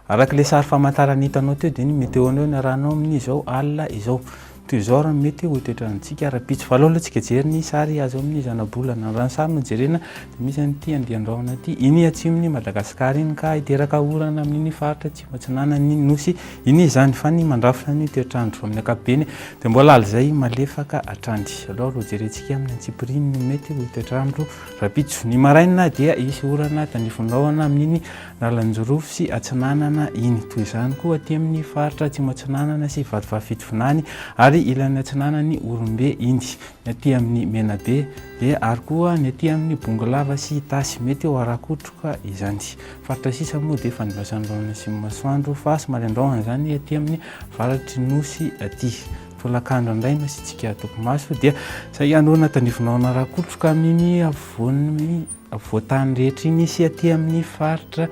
Araka ilay sary famantarana hitanao teo dia ny météo anao ny arahanao amin'ny izao alina izao. Toy izao raha mety ho toetrantsika ara-pitsy. Valao aloha tsika jery ny sary azo amin'ny zanabolana. Raha ny sary no jerena dia misy an'ity andian-drahona ity. Iny atsimon'i Madagasikara iny ka hiteraka orana amin'iny faritra atsimo. Atsinanana ny nosy iny izany fa ny mandrafitra ny toetr'andro amin'ny ankapobeny dia mbola alizay malefaka hatrany. Aleo aloha jerentsika amin'ny antsipiriany ny mety ho toetr'andro rahampitso. Ny maraina dia hisy orana tanivon'ny rahona amin'iny lalan'i Jorofo sy Atsinanana iny. Toy izany koa aty amin'ny faritra Atsimo Atsinanana sy Vatovavy-Fitovinany ary ilany atsinanan'i Orimbe iny. Ny aty amin'ny Menabe dia ary koa ny aty amin'ny Bongolava sy Itasy mety ho ara-kotroka izany. Faritra sisa moa dia fandraisany ireo any Atsimo Masoandro fa somary andraohana izany aty amin'ny varatry Nosy aty. Tolakandro indray no asiantsika topimaso dia saika hanorina tandrifin'orina rakotroka amin'iny afovoan'ny afovoan-tany rehetra iny sy aty amin'ny faritra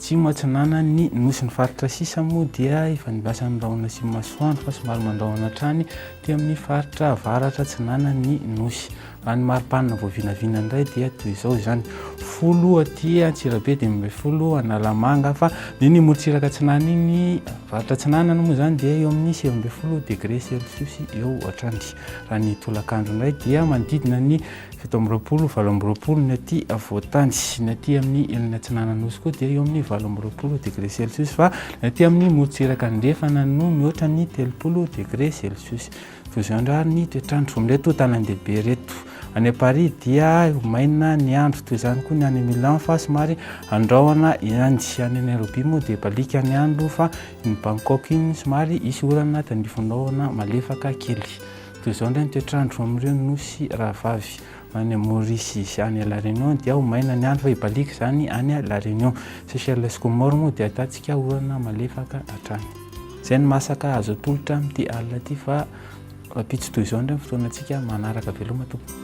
Atsimo Atsinanan'ny Nosy. Ny faritra sisa moa dia ifandraisan'ny rahona Atsimo Masoandro fa somary mandrahona hatrany aty amin'ny faritra Avaratra Atsinanan'ny Nosy. Raha ny mari-panina voavinavina indray dia toy izao izany, folo aty Antsirabe, dimy ambin'ny folo Analamanga, fa dia ny morontsiraka atsinanana iny, faritra atsinanana moa izany dia eo amin'ny sivy ambin'ny folo degré celsius eo hatrany. Raha ny tolakandro indray dia manodidina ny fito amby roapolo, valo amby roapolo ny aty afovoantany, ny aty amin'ny ilany atsinanana nosy koa dia eo amin'ny valo amby roapolo degré celsius, fa ny aty amin'ny morontsiraka andrefana no mihoatra ny telopolo degré celsius. Toy izao indray ary ny toetr'andro amin'ireto tanàn-dehibe ireto. Any Paris dia maina ny andro, toy izany koa ny any Milan fa somary andrahona ihany. Any Nairobi moa dia baliaka ny andro fa iny Bangkok iny somary hisy orana tandrifin'ny rahona malefaka kely. Toy izao indray ny toetr'andro amin'ireo nosy rahavavy. any Maurice sy any La Réunion dia ho maina ny andro fa hibaliaka izany any La Réunion. Seychelles sy Comores moa dia ahitantsika orana malefaka hatrany. Izay no mahasaka azo atolotra amin'ity alina ity fa rahampitso toy izao indray ny fotoanantsika manaraka. Veloma tompoko.